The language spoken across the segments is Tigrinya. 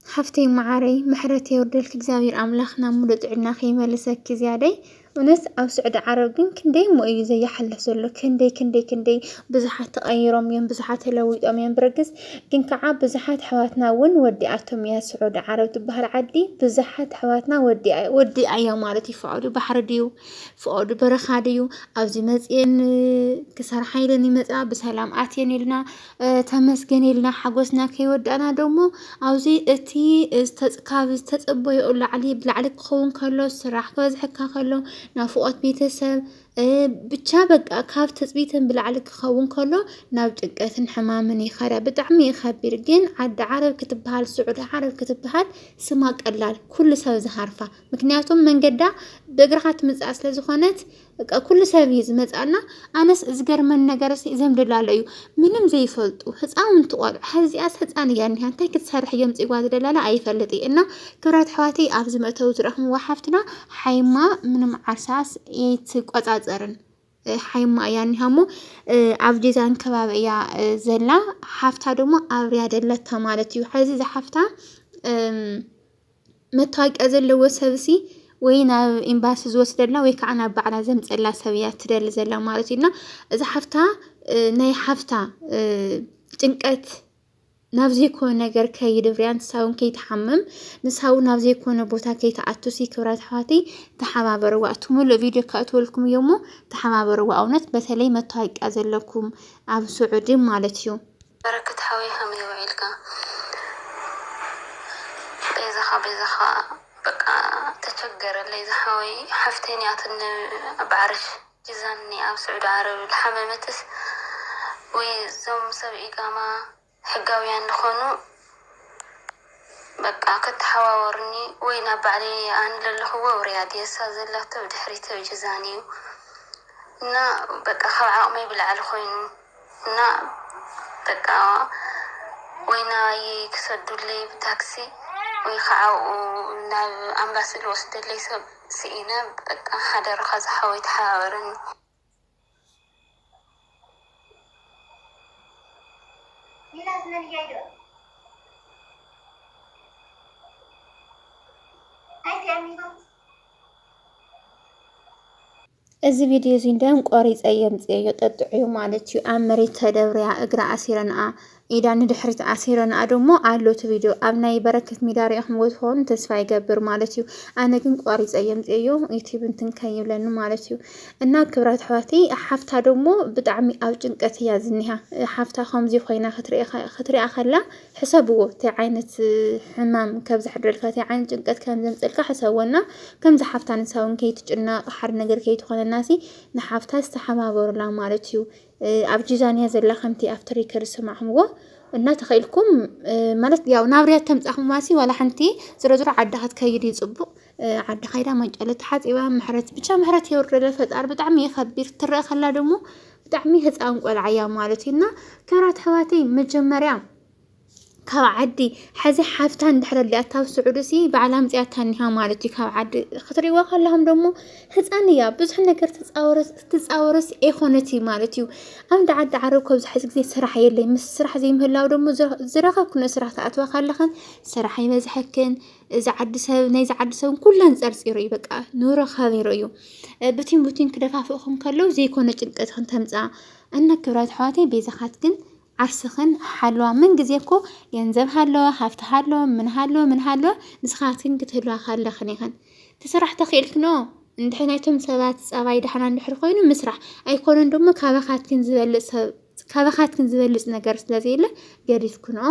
ሓፍተይ መዓረይ ምሕረት የውርደልኪ እግዚኣብሔር ኣምላክ ናብ ሙሉእ ጥዕናኪ ይመልሰኪ ዝያዳይ። እውነት ኣብ ስዑዲ ዓረብ ግን ክንደይ እሞ እዩ ዘየሓልፍ ዘሎ ክንደይ ክንደይ ክንደይ ብዙሓት ተቐይሮም እዮም ብዙሓት ተለዊጦም እዮም ብርግጽ ግን ከዓ ብዙሓት ኣሕዋትና እውን ወዲኣቶም እያ ስዑዲ ዓረብ ትበሃል ዓዲ ብዙሓት ኣሕዋትና ወዲኣ ወዲኣ እያ ማለት እዩ ፍዖዱ ባሕሪ ድዩ ፍዖዱ በረኻ ድዩ ኣብዚ መፅኤን ክሰርሓ ኢለን ይመፃ ብሰላም ኣትየን ኢልና ተመስገን ኢልና ሓጎስና ከይወዳእና ደሞ ኣብዚ እቲ ካብ ዝተፀበየኡ ላዕሊ ብላዕሊ ክኸውን ከሎ ስራሕ ክበዝሐካ ከሎ ናፍቆት ቤተሰብ ብቻ በቃ ካብ ትፅቢትን ብላዕሊ ክኸውን ከሎ ናብ ጭንቀትን ሕማምን ይኸዳ ብጣዕሚ እዩ ከቢድ ግን ዓዲ ዓረብ ክትበሃል ስዑዲ ዓረብ ክትበሃል ስማ ቀላል ኩሉ ሰብ ዝሃርፋ ምክንያቱም መንገዳ ብእግርኻ ትምፃእ ስለዝኾነት በቃ ኩሉ ሰብ እዩ ዝመፅኣና። ኣነስ ዝገርመን ነገር ሲ እዞም ደላሎ እዩ ምንም ዘይፈልጡ ህፃውንቲ ቆልዑ ሀዚኣስ ህፃን እያ እኒሃ እንታይ ክትሰርሕ እዮም ፅዋ ዝደላላ ኣይፈልጥ እዩ እና ክብራት ኣሕዋተይ ኣብዚ መእተዊ ዝረኽምዋ ሓፍትና ሓይማ ምንም ዓርሳስ ኣይትቆፃፀርን ሓይማ እያ እኒሃ እሞ ኣብ ጀዛን ከባቢ እያ ዘላ ሓፍታ ድማ ኣብርያ ደለታ ማለት እዩ ሐዚ ዝሓፍታ መታወቅያ ዘለዎ ሰብሲ ወይ ናብ ኤምባሲ ዝወስደላ ወይ ከዓ ናብ ባዕላ ዘምፀላ ሰብ እያ ትደሊ ዘላ ማለት እዩ እና እዚ ሓፍታ ናይ ሓፍታ ጭንቀት ናብ ዘይኮነ ነገር ከይድብርያ ንሳ እውን ከይትሓምም ንሳ እውን ናብ ዘይኮነ ቦታ ከይትኣቱሲ ክብራት ኣሕዋተይ ተሓባበርዋ እቲ ሙሉእ ቪድዮ ከእትወልኩም እዮ እሞ ተሓባበርዋ እውነት በተለይ መታወቂያ ዘለኩም ኣብ ስዑዲ ማለት እዩ በረከት ሓወይ ከመይ ውዒልካ ቤዛኻ ቤዛኻ በቃ ተቸገረለይ ዝሓወይ ሓፍተይ ኒኣትኒ ኣብ ዓርሽ ጅዛን ኒኣ ኣብ ስዑዲ ዓረብ ልሓመመትስ ወይ እዞም ሰብ ኢቃማ ሕጋውያን ልኾኑ በቃ ከተሓዋወሩኒ ወይ ናብ ባዕለይ ኣነ ለለኹዎ ውርያ ድየ እሳ ዘላቶ ብድሕሪት ተውጅዛኒ እዩ እና በቃ ካብ ዓቕመይ ብላዕሊ ኮይኑ እና በቃ ወይ ናባየይ ክሰዱለይ ብታክሲ ወይ ከዓ ኣብኡ ናብ ኣምባሲ ልወስደለይ ሰብ ስኢነ በቃ ሓደራኻ ዝሓወይ ተሓባበረኒ። እዚ ቪድዮ እዚ እንዲያውም ቆሪፀ እየ ኣምፂኤዮ ጠጥዑ ማለት እዩ ኣብ መሬት ተደብርያ እግራ ኣሲረንኣ ኢዳ ንድሕሪት ኣሲረንኣ ደሞ ኣሎ እቲ ቪድዮ ኣብ ናይ በረከት ሚዳ ሪኢኹምዎ ትኾኑ ተስፋ ይገብር ማለት እዩ ኣነ ግን ቋሪፀ የምፅኤዮ ዩቲብ እንትን ከይብለኒ ማለት እዩ እና ክብራት ኣሕዋተይ ሓፍታ ደሞ ብጣዕሚ ኣብ ጭንቀት እያ ዝኒሃ ሓፍታ ከምዚ ኮይና ክትሪኣ ከላ ሕሰብዎ እንታይ ዓይነት ሕማም ከም ዘሕድረልካ እንታይ ዓይነት ጭንቀት ከም ዘምፀልካ ሕሰብዎና ከምዚ ሓፍታ ንሳ እውን ከይትጭነቕ ሓደ ነገር ከይትኾነና ሲ ንሓፍታ ዝተሓባበሩላ ማለት እዩ ኣብ ጂዛን እያ ዘላ ከምቲ ኣብቲ ሪከር ዝሰማዕኹምዎ እና ተኸኢልኩም ማለት ያው ናብ ርያድ ተምጻኹማሲ ዋላ ሓንቲ ዝሮ ዝሮ ዓዲ ክትከይድ እዩ ጽቡቕ ዓዲ ካይዳ መንጨለ ተሓጺባ ምሕረት ብቻ ምሕረት የውርደለ ፈጣሪ ብጣዕሚ የኸቢር ትረአ ከላ ደሞ ብጣዕሚ ህፃን ቆልዓ እያ ማለት እዩ እና ክብራት ኣሕዋተይ መጀመርያ ካብ ዓዲ ሐዚ ሓፍታ እንድሕር ኣሊኣታ ኣብ ስዑዲ ሲ ባዕላ ኣምፂኣታ እኒሃ ማለት እዩ ካብ ዓዲ ክትሪእዋ ከለኹም ደሞ ህፃን እያ ብዙሕ ነገር ትፃወረስ ትፃወረስ ኤኾነት እዩ ማለት እዩ ኣብ እንዳ ዓዲ ዓረብ ከብዚ ሐዚ ግዜ ስራሕ የለይ ምስ ስራሕ ዘይምህላው ደሞ ዝረኸብክኖ ስራሕ ክኣትዋ ከለኽን ስራሕ ይበዝሐክን እዚ ዓዲ ሰብ ናይዚ ዓዲ ሰብ ኩለን ፀርፂሩ እዩ በቃ ኑሮ ከቢሩ እዩ ብቲን ብቲን ክደፋፍእኹም ከለው ዘይኮነ ጭንቀት ክንተምፃ እና ክብራት ኣሕዋተይ ቤዛኻት ግን ዓርስኽን ሓልዋ ምን ግዜ እኮ ገንዘብ ሃለወ ሃፍቲ ሃለወ ምን ሃለወ ምን ሃለወ ንስኻትክን ክትህልዋ ከለኽን ኢኽን ትስራሕ ተኺእልክንኦ እንድሕር ናይቶም ሰባት ጸባይ ዳሕና እንድሕር ኮይኑ ምስራሕ ኣይኮነን ደሞ ካባኻትክን ዝበልጽ ሰብ ካባኻትክን ዝበልጽ ነገር ስለዘየለ ገዲፍክንኦ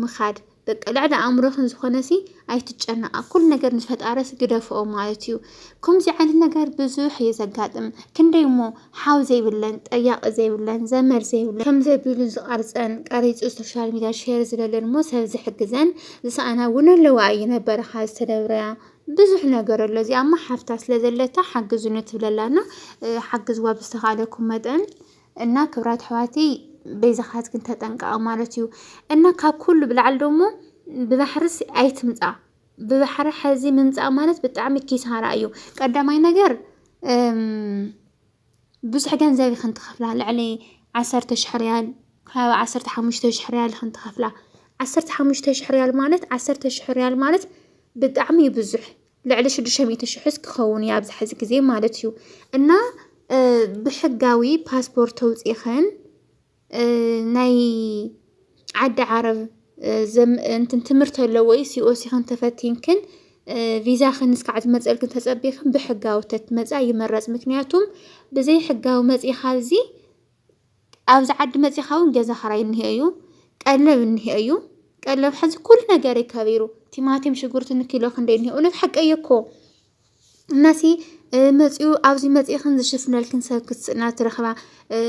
ምኻድ በቃ ልዕሊ ኣእምሮኽን ዝኾነሲ ኣይትጨነቓ ኩሉ ነገር ምስ ፈጣረስ ግደፍኦ ማለት እዩ። ከምዚ ዓይነት ነገር ብዙሕ እዩ ዘጋጥም ክንደይ እሞ ሓው ዘይብለን ጠያቂ ዘይብለን ዘመድ ዘይብለን ከም ዘቢሉ ዝቐርፀን ቀሪፁ ሶሻል ሚዲያ ሼር ዝበለን እሞ ሰብ ዝሕግዘን ዝሰኣና እውን ኣለዋ እዩ ነበረኻ ዝተደብረያ ብዙሕ ነገር ኣሎ እዚኣ እሞ ሓፍታ ስለ ዘለታ ሓግዙኒ ትብለላ እና ሓግዝዋ ብዝተኻለኩም መጠን እና ክብራት ኣሕዋተይ በይዛኻትክን ተጠንቀቓ ማለት እዩ እና ካብ ኩሉ ብላዕሊ ደሞ ብባሕርስ ኣይትምፃእ ብባሕሪ ሐዚ ምምፃእ ማለት ብጣዕሚ ኪሳራ እዩ ቀዳማይ ነገር ብዙሕ ገንዘብ ኢኽን ትኸፍላ ልዕሊ ዓሰርተ ሽሕ ሪያል ካብ ዓሰርተ ሓሙሽተ ሽሕ ሪያል ኢኽን ትኸፍላ ዓሰርተ ሓሙሽተ ሽሕ ሪያል ማለት ዓሰርተ ሽሕ ሪያል ማለት ብጣዕሚ እዩ ብዙሕ ልዕሊ ሽዱሽተ ሚእቲ ሽሕስ ክኸውን እዩ ኣብዚ ሕዚ ግዜ ማለት እዩ እና ብሕጋዊ ፓስፖርት ተውፂኽን ናይ ዓዲ ዓረብ እንትን ትምህርቲ ኣለዎ እዩ ሲኦሲኽን ተፈቲንክን ቪዛኽን እስካዕ ዝመፀልክን ተፀቢኽን ብሕጋዊ ተትመፃ ይመረፅ ምክንያቱም ብዘይ ሕጋዊ መፂኻ ኣብዚ ኣብዚ ዓዲ መጺኻ እውን ገዛ ኽራይ እኒሀ እዩ፣ ቀለብ እኒሀ እዩ፣ ቀለብ ሕዚ ኩሉ ነገር እዩ ከቢሩ፣ ቲማቲም ሽጉርቲ ንኪሎ ክንደይ እኒሀ፣ እውነት ሓቀይ እየ እኮ እናሲ መፂኡ ኣብዚ መፂእኽን ዝሽፍነልክን ሰብ ክትስእና ትረኽባ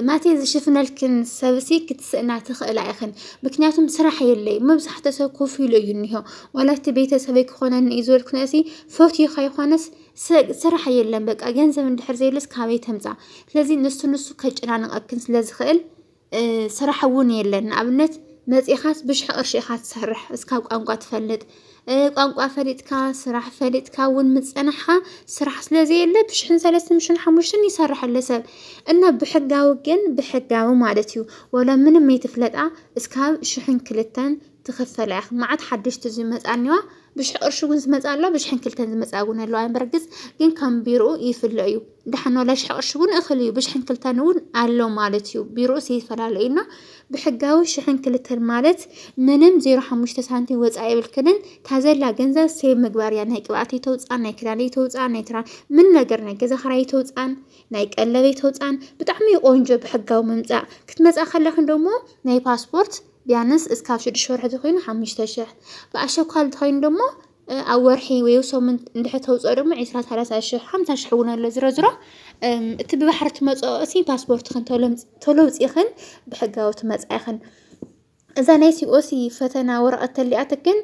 ማቴ ዝሽፍነልክን ሰብሲ ክትስእና ትኽእላ ኢኽን ምክንያቱም ስራሕ የለይ መብዛሕትኦ ሰብ ኮፍ ኢሉ እዩ እኒሆ ዋላ እቲ ቤተሰበይ ክኾነኒ እዩ ዝበልኩ ነእሲ ፈትዩኻ ይኾነስ ስራሕ የለን በቃ ገንዘብ እንድሕር ዘይብለስ ካበይ ተምፃእ? ስለዚ ንሱ ንሱ ከጨናንቐክን ስለ ዝኽእል ስራሕ እውን የለን። ንኣብነት መፂኻስ ብሽሕ ቅርሺ ኢኻ ትሰርሕ እስካብ ቋንቋ ትፈልጥ ቋንቋ ፈሊጥካ ስራሕ ፈሊጥካ እውን ምፀናሕኻ ስራሕ ስለ ዘየለ ብሽሕን ሰለስትን ብሽሕን ሓሙሽትን ይሰርሐለ ሰብ እና ብሕጋዊ ግን ብሕጋዊ ማለት እዩ ወላ ምንም ኣይትፍለጣ እስካብ ሽሕን ክልተን ትክፈላ ኢኪ ማዓት ሓደሽቲ ዝመጻ እኒዋ ብሽሕ ቅርሺ ውን ዝመጻ ኣለዋ ብሽሕን ክልተን ዝመጻ ውን ኣለዋ በርግጽ ግን ከም ቢሩኡ ይፍለ እዩ ዳሓን ዋላ ሽሕ ቅርሺ ውን እክል እዩ ብሽሕን ክልተን ውን ኣሎ ማለት እዩ ቢሩኡስ ይፈላለ እዩና ብሕጋዊ ሽሕን ክልተን ማለት ምንም ዜሮ ሓሙሽተ ሳንቲም ወጻኢ የብልክንን ታዘላ ገንዘብ ሴብ ምግባር እያ ናይ ቅብኣት ይተውጻን ናይ ክዳን ይተውጻን ናይ ትራን ምን ነገር ናይ ገዛ ክራይ ይተውጻን ናይ ቀለብ ይተውጻን ብጣዕሚ ቆንጆ ብሕጋዊ ምምጻእ ክትመጻ ከለክን ደሞ ናይ ፓስፖርት ቢያንስ እስካብ ሽዱሽተ ወርሒ ተኾይኑ ሓሙሽተ ሽሕ ብኣሸኳል ተኾይኑ ደሞ ኣብ ወርሒ ወይ ኣብ ሰሙንት እንድሕር ተውፅኦ ደሞ ዒስራ ሰላሳ ሽሕ ሓምሳ ሽሕ እውን ኣሎ ዝሮ ዝሮ እቲ ብባሕሪ ትመፅኦ እሲ ፓስፖርትኽን ቶሎ ኣውፂእኽን ብሕጋዊ ትመፃ ኢኽን እዛ ናይ ሲኦሲ ፈተና ወረቐት ተሊኣትክን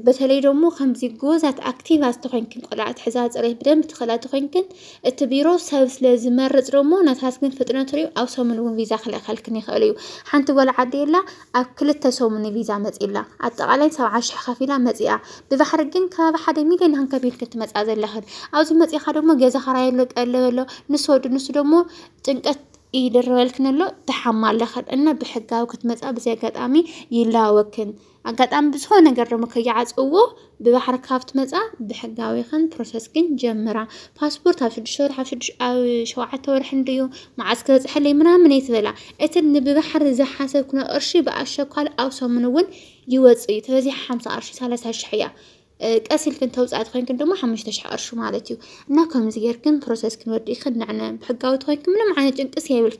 በተለይ ደሞ ከምዚ ጎበዛት ኣክቲቫት ተኾይንክን ቆልዓ ኣትሕዛ ፅሬት ብደንቢ ትኽእላ ተኾይንክን እቲ ቢሮ ሰብ ስለ ዝመርፅ ደሞ ናታትክን ፍጥነት ሪኡ ኣብ ሰሙን እውን ቪዛ ክልእኸልክን ይኽእል እዩ። ሓንቲ ጓል ዓዲ የላ ኣብ ክልተ ሰሙን እዩ ቪዛ መፂላ ኣጠቓላይ ሰብዓ ሽሕ ከፊላ መፂኣ ብባሕሪ ግን ከባቢ ሓደ ሚልዮን ኢኽን ከፊልክን ትመፅኣ ዘለኽን ኣብዚ መፂኻ ደሞ ገዛ ኸራይ ኣሎ ቀለብ ኣሎ ንሱ ወዲ ንሱ ደሞ ጭንቀት ይድርበልክን ኣሎ ትሓማ ኣለኽን እና ብሕጋዊ ክትመፃ በዚ ኣጋጣሚ ይላበወክን። ኣጋጣሚ ብዝኾነ ነገር ደሞ ከይዓጽውዎ ብባሕሪ ካብ ትመጻ ብሕጋዊኽን ፕሮሰስክን ጀምራ ፓስፖርት ኣብ ሽዱሽተ ወርሒ ኣብ ሽዱሽ ኣብ ሸውዓተ ወርሒ እንድዩ መዓስ ክበጽሐለይ ምናምን ኣይትበላ እቲ ንብባሕሪ ዝሓሰብክኖ ቅርሺ ብኣሸኳል ኣብ ሰሙን እውን ይወጽእ እዩ ተበዚሐ ሓምሳ ቅርሺ ሰላሳ ሽሕ እያ ቀስ ኢልክን ተውጻእቲ ኮይንክን ድማ ሓሙሽተ ሽሕ ቅርሺ ማለት እዩ እና ከምዚ ጌርክን ፕሮሰስክን ወዲእክን ንዕነ ብሕጋዊ ተኮይንክን ምንም ዓይነት ጭንቅስ የብልክን